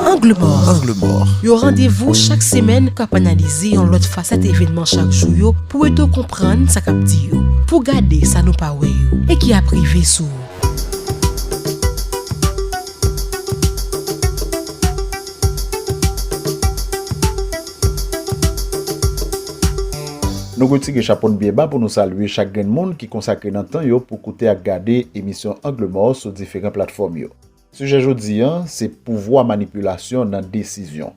Angle mò, yon randevou chak semèn k ap analize yon lòt fasèt evènman chak jou yo pou ede w konprann sa k ap di yo, pou w gade sa nou pa wè yo e ki ap rive sou ou. Nou retire chapo n byen ba pou nou salye chak grenn moun ki konsakre nan tan yo pou koute ak gade emisyon Angle mò sou diferan platfòm yo. Sijè jodi an se pouvwa manipilasyon nan desizyon.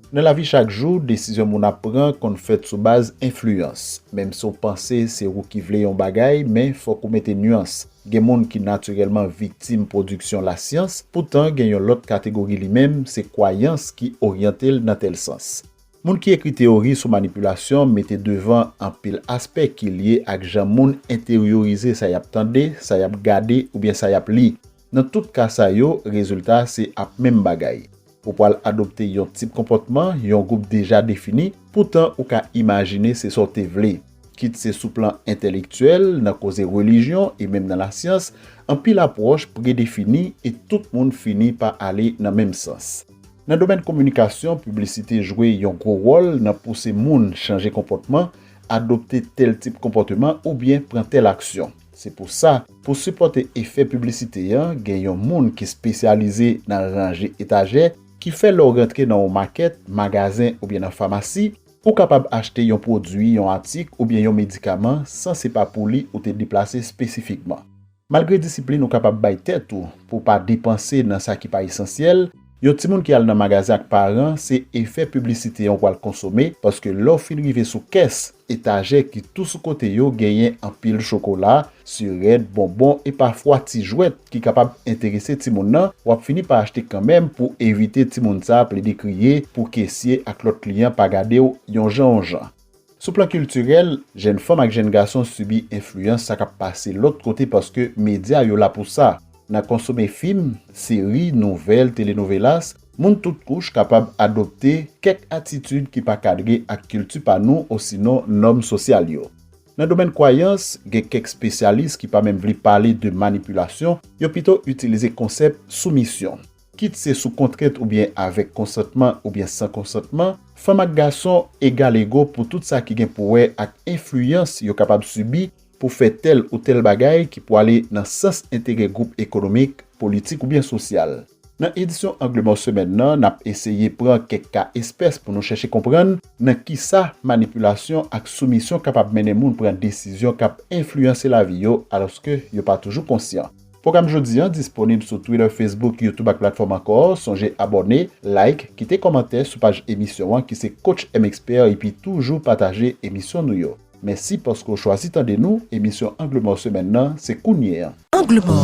Nan lavi chak jou, desizyon moun ap pran konn fèt sou baz enfliyans. Menm si w panse se ou ki vle yon bagay, men fòk ou mete nuans. Gen moun ki natirèlman viktim pwodiksyon lasyans, poutan gen yon lòt kategori li menm se kwayans ki oryante l nan tèl sans. Moun ki ekri teyori sou manipilasyon mete devan anpil aspè ki lye ak jan moun enteryorize sa y ap tande, sa y ap gade oubyen sa y ap li. Nan tout ka sa yo, rezilta a se ap menm bagay. Ou pral adopte yon tip konpòtman yon gwoup deja defini, poutan ou ka imajine se sa w te vle. Kit se sou plan entèlektyèl, nan koze relijyon e menm nan lasyans, anpil apwòch predefini e tout moun fini pa ale nan menm sans. Nan domèn kominikasyon, piblisite jwe yon gwo wòl nan pouse moun chanje konpòtman, adopte tèl tip konpòteman oubyen pran tèl aksyon. Se pou sa, pou sipòte efè piblisite an, gen yon moun ki spesyalize nan ranje etajè, ki fè lè w rantre nan yon makèt, magazen oubyen nan famasi, ou kapab achte yon pwodui, yon atik oubyen yon medikaman san se pa pou li ou te deplase spesifikman. Malgre disiplin ou kapab bay tèt ou pou w pa depanse nan sa ki pa esansyèl, Yon timoun ki al nan magazen ak paran se efè piblisite an w pral konsome paske lè w fin rive sou kès, etajè ki tou sou kote yo genyen anpil chokola, sirèt, bonbon e pafwa ti jwèt ki kapab enterese timoun nan, w ap fini pa achte kanmenm pou evite timoun sa plede kriye pou kesye ak lòt kliyan pa gade w yon jan w jan. Sou plan kiltirèl, jèn fanm ak jèn gason sibi enfliyans sa k ap pase lòt kote paske medya yo la pou sa. Nan konsome fim, seri, nouvèl, telenovelas, moun tout kouch kapab adopte kèk atitid ki pa kadre ak kilti pa nou osinon nòm sosyal yo. Nan domèn kwayans, gen kèk spesyalis ki pa menm vle pale de manipilasyon, yo pito itilize konsèp soumisyon. Kit se sou kontrent oubyen avèk konsantman oubyen san konsantman, fanm ak gason egal ego pou tout sa ki gen pou wè ak enfliyans yo kapab sibi pou fè tèl ou tèl bagay ki pou ale nan sans enterè gwoup ekonomik, politik oubyen sosyal. Nan edisyon Angle Mò semèn nan, n ap eseye pran kèk ka espès pou nou chèche konprann nan kisa manipilasyon ak soumisyon kapab mennen moun pran desizyon k ap enfliyanse lavi yo alòske yo pa toujou konsyan. Pwogram jodi an disponib sou Twitter, Facebook, YouTube ak platfòm ankò. Sonje abòne, like, kite kòmantè sou paj emisyon an ki se Coach M Expert epi toujou pataje emisyon nou yo. Mèsi paske w chwazi tande nou, emisyon Angle Mò semèn nan se kounye an. Angle Mò,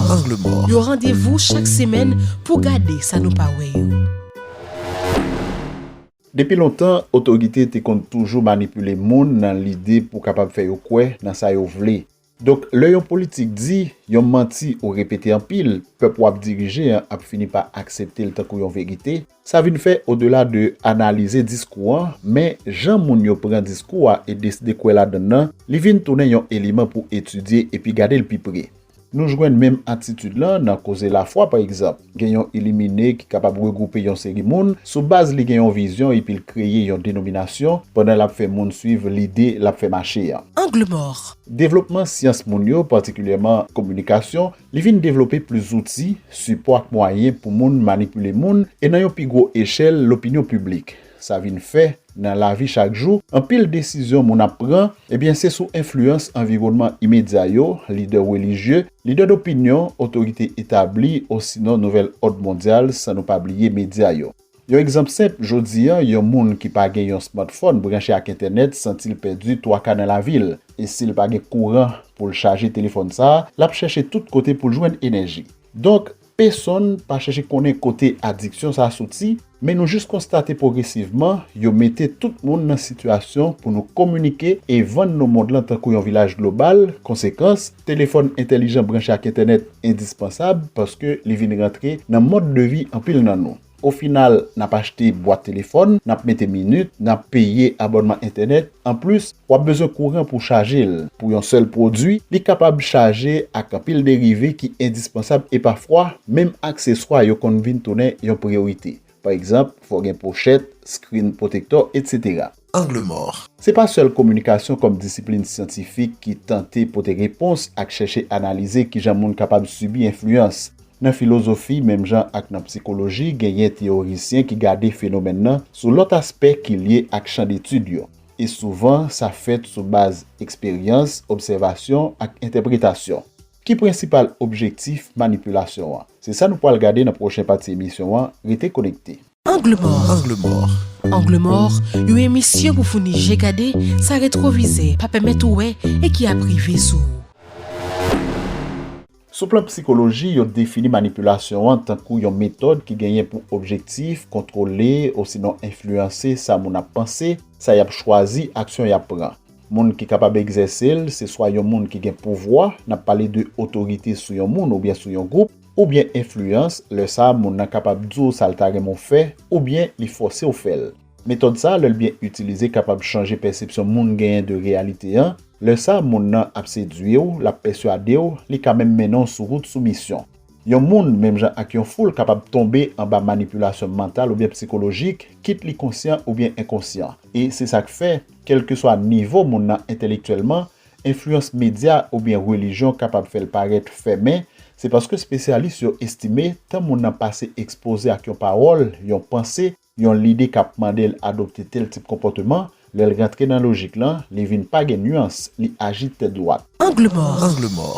yon randevou chak semèn pou gade sa nou pa wè yo. Depi lontan, otorite te konn toujou manipile moun nan lide pou kapab fè yo kwè nan sa yo vle. Donk lè yon politik di yon manti ou repete anpil, pèp wap dirije an ap fini pa aksepte l tankou yon verite, sa vin fè odela de analize diskou an, men jan moun yo pran diskou a e deside kwè ladann nan, li vin tounen yon eleman pou etidye epi gade l pi pre. Nou jwenn menm atitid lan nan koze lafwa pa egzanp. Gen yon ilimine ki kapab regwoupe yon seri moun sou baz li gen yon vizyon epi l kreye yon denominasyon pandan l ap fè moun suiv lide l ap fè mache an. Angle mò. Devlopman syans moun yo, patikilyèman kominikasyon, li vin devlope plis zouti, sipò ak mwayen pou moun manipile moun e nan yon pi gwo echèl lopinyon piblik. Sa vin fè, nan lavi chak jou, anpil desizyon moun ap pran, ebyen se sou enfliyans anviwònman imedya yo, lidè relijye, lidè dopinyon, otorite etabli, osinon nouvèl òd mondyal, san nou pa bliye medya yo. Yon egzanp senp, jodi a, yon moun ki pa gen yon smartphone branche ak entènèt santi l pèdi twaka nan lavi l. E si l pa gen kouran pou l chaje telefòn sa a, l ap chèche tout kote pou l jwenn enèji. Donk, Pesonn pa chèche konnen kote adiksyon sa soti, men nou jis konstate pwogresivman, yo mete tout moun nan sitiyasyon pou nou kominike e vann nou mond lan tankou yon vilaj global, konsekans, telefòn entèlijan branche ak entènèt endispansab paske li vin rantre nan mòd de vi anpil nan nou. O final, n ap achte bwat telefòn, n ap mete minit, n ap peye abònman entènèt. Anplis, w ap bezwen kouran pou chaje l. Pou yon sèl pwodui, li kapab chaje ak anpil derive ki endispansab e pafwa, menm akseswa yo konn vin tounen yon priyorite. Pa egzanp, fò w gen pochèt, screen protector, etc. Angle mort. Se pa sèl kominikasyon kòm disiplin syantifik ki tante pote repons ak chèche analize kijan moun kapab sibi enfliyans. Nan filozofi, menm jan ak nan psikoloji, genyen teyorisyen ki gade fenomèn nan sou lòt aspè ki lye ak chan detid yo, e souvan sa fèt sou baz eksperyans, obsèvasyon, ak entèpretasyon. Ki prensipal objektif manipilasyon an? Se sa nou pral gade nan pwochen pati emisyon an, rete konekte. Angle mort Angle mort Angle mort yon emisyon pou founi je gade sa retwovize pa pèmèt ou wè e ki ap rive sou ou. Sou plan psikoloji, yo defini manipilasyon an tankou yon metòd ki genyen pou objektif kontwole osinon enfliyanse sa moun ap panse, sa y ap chwazi, aksyon y ap pran. Moun ki kapab egzèse l se swa yon moun ki gen pouvwa, n ap pale de otorite sou yon moun oubyen sou yon gwoup, oubyen enfliyans, lè sa a moun nan kapab di w sa l ta renmen w fè oubyen li fòse w fè l. Metòd sa a lè l byen itilize kapab chanje pèsepsyon moun genyen de reyalite an, lè sa a moun nan ap sedui w, l ap pèsyade w, li ka menm mennen w sou wout soumisyon. Yon moun, menm jan ak yon foul, kapab tonbe anba manipilasyon mantal oubyen psikolojik, kit li konsyan oubyen enkonsyan. E se sa k fè, kèlkeswa nivo moun nan entèlektyèlman, Enfliyans medya oubyen relijyon kapab fè l parèt fèmen, se paske spesyalis yo estime tan moun nan pase ekspoze ak yon pawòl, yon panse, yon lide k ap mande l adopte tèl tip konpòteman, lè l rantre nan lojik lan, li vin pa gen nuans, li aji tèt dwat. Angle mò.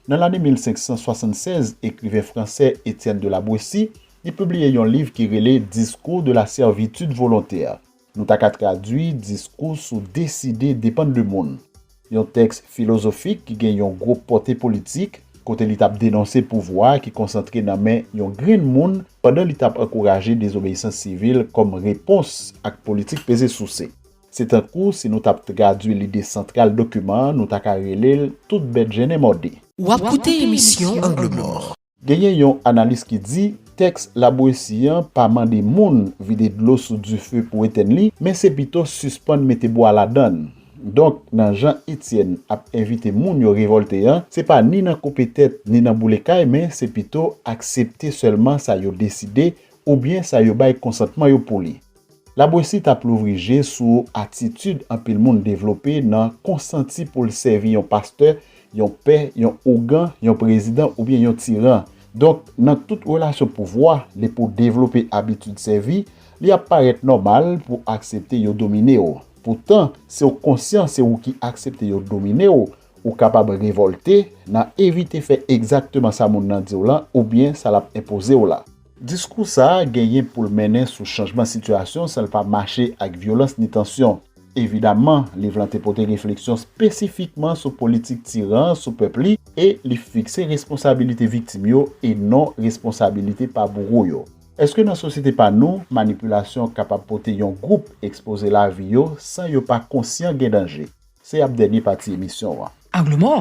Nan lane 1576, ekriven fransè Etienne de la Boétie, li pibliye yon liv ki rele Discours de la servitude volontaire. Nou ta ka tradui diskou sou deside depann de moun, yon tèks filozofik ki gen yon gwo pòte politik, kote li t ap denonse pouvwa ki konsantre nan men yon grenn moun pandan li t ap ankouraje dezobeyisans sivil kòm repons ak politik peze souse. Se tankou si nou t ap tradui lide santral dokiman an, nou ta ka rele l tout bèt jennen mòde. Ou ap koute emisyon Angle Mò. Genyen yon analis ki di, tèks Labouesi an pa mande moun vide dlo sou dife pou etenn li, men se pito sispann mete bwa ladan l. Donk, nan jan Etyèn ap envite moun yo revòlte an, se pa ni nan koupe tèt ni nan boule kay men se pito aksepte sèlman sa yo deside oubyen sa yo bay konsantman yo pou li. Labwesit ap louvri je sou atitid anpil moun devlope nan konsanti pou l sèvi yon pastè, yon pè, yon ougan, yon prezidan oubyen yon tiran. Donk, nan tout relasyon pouvwa, lè pou w devlope abitid sèvi, li ap parèt nòmal pou w aksepte yo domine w. Poutan, si w konsyan se ou ki aksepte yo domine w, ou kapab revòlte, nan evite fè egzakteman sa moun nan di w lan oubyen sa l ap enpoze w la. Diskou sa a genyen pou l mennen sou chanjman sitiyasyon san l pa mache ak vyolans ni tansyon. Evidaman, liv lan te pote refleksyon spesifikman sou politik tiran an sou pèp li e li fikse responsabilite viktim yo e non responsabilite pa bouro yo. Eske nan sosyete pa nou, manipilasyon kapab pote yon gwoup ekspoze lavi yo san yo pa konsyan gen danje? Se ap dènye pati emisyon an. Angle mò,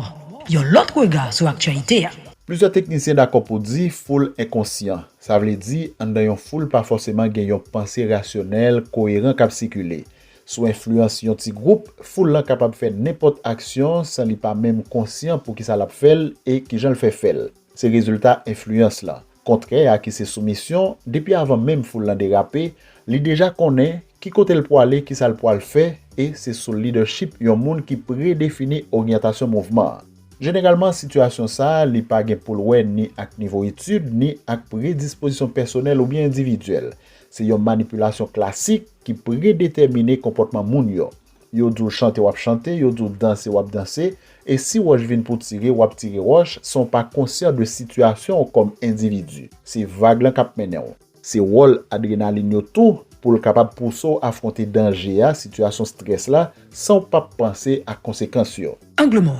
yon lòt rega sou aktyalite a. Plizyè teknisyen dakò pou di foul enkonsyan. Sa vle di, anndan yon foul pa fòseman gen yon panse rasyonèl, koyeran k ap sikile. Sou enfliyans yon ti gwoup, foul lan kapab fè nenpòt aksyon san li pa menm konsyan poukisa l ap fè l e kijan l fè fè l. Se rezilta enfliyans lan. Kontrè a ki se soumisyon, depi avan menm foul lan derape, li deja konnen ki kote l pwale, ki sa l pwal fè e se sou lidèchip yon moun ki predefini oryantasyon mouvman an. Jeneralman sitiyasyon sa li pa gen pou l wè ni ak nivo etid ni ak predispozisyon pèsonèl oubyen endividyèl. Se yon manipilasyon klasik ki predetèmine konpòtman moun yo. Yo di w chante w ap chante, yo di w danse w ap danse, e si wòch vin pou tire w ap tire wòch san w pa konsyan de sitiyasyon w kòm endividi. Se vag lan k ap mennen w. Se wòl adrenalin yo tou pou l kapab pouse w afwonte danje a, sitiyasyon strès la, san w pap panse ak konsekans yo. Angle mò.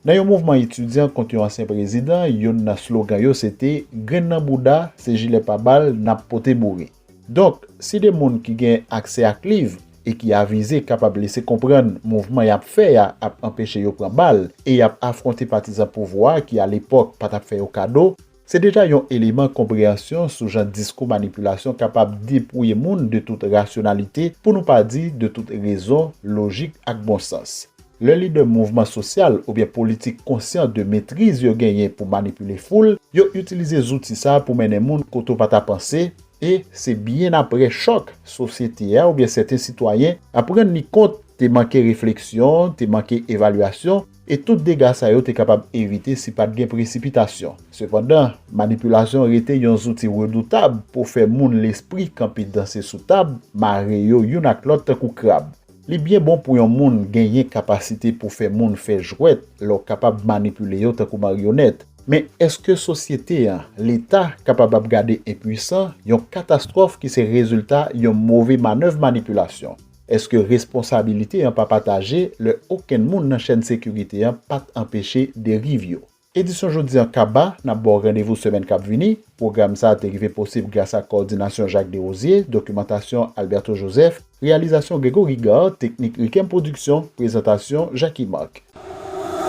Nan yon mouvman etidyan kont yon ansyen prezidan, youn nan slogan yo se te, Grenn nan bouda, se jilè pa bal n ap pote boure. Donk, si de moun ki gen aksè ak liv e ki avize kapab lese konprann mouvman y ap fè a ap anpeche yo pran bal e y ap afwonte patizan pouvwa a ki alepòk pa t ap fè yo kado, se deja yon eleman konpreyansyon sou jan diskou manipilasyon kapab depouye moun de tout rasyonalite, pou nou pa di de tout rezon, lojik ak bon sans. Lè lidè mouvman sosyal oubyen politik konsyan de metriz yo genyen pou manipile foul, yo itilize zouti sa pou mennen moun kote w pa ta panse, e se byen aprè chòk, sosyete a oubyen sèten sitwayen ap rann li kont te manke refleksyon, te manke evalyasyon, e tout dega sa yo te kapab evite si pa t gen presipitasyon. Sepandan, manipilasyon rete yon zouti redoutab pou fè moun lespri kanpe danse sou tab, mare yo youn ak lòt tankou krab. Li byen bon pou yon moun genyen kapasite pou fè moun fè jwèt lè w kapab manipile yo tankou maryonèt. Men èske sosyete an, Leta, kapab ap gade enpuisan yon katastwòf ki se rezilta yon move manèv manipilasyon? Èske responsabilite an pa pataje lè okenn moun nan chèn sekirite an pa t anpeche deriv yo? Edisyon jodi an kaba, n ap ba w randevou semèn k ap vini. Pwogram sa a te rive posib gras ak kowòdinasyon Jacques Derosier, dokimantasyon Alberto Joseph, reyalizasyon Grégory Gard, teknik Riquem Production, prezantasyon Jacky Marc.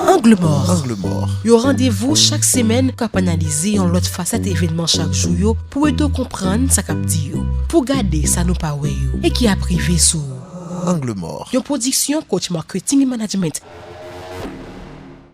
Angle mòr, yon randevou chak semèn k ap analize yon lòt fasèt evènman chak jou yo pou ede w konprann sa k ap di yo, pou w gade sa nou pa wè yo e ki ap rive sou ou. Angle mòr, yon pwodiksyon Coach Marketing et Management.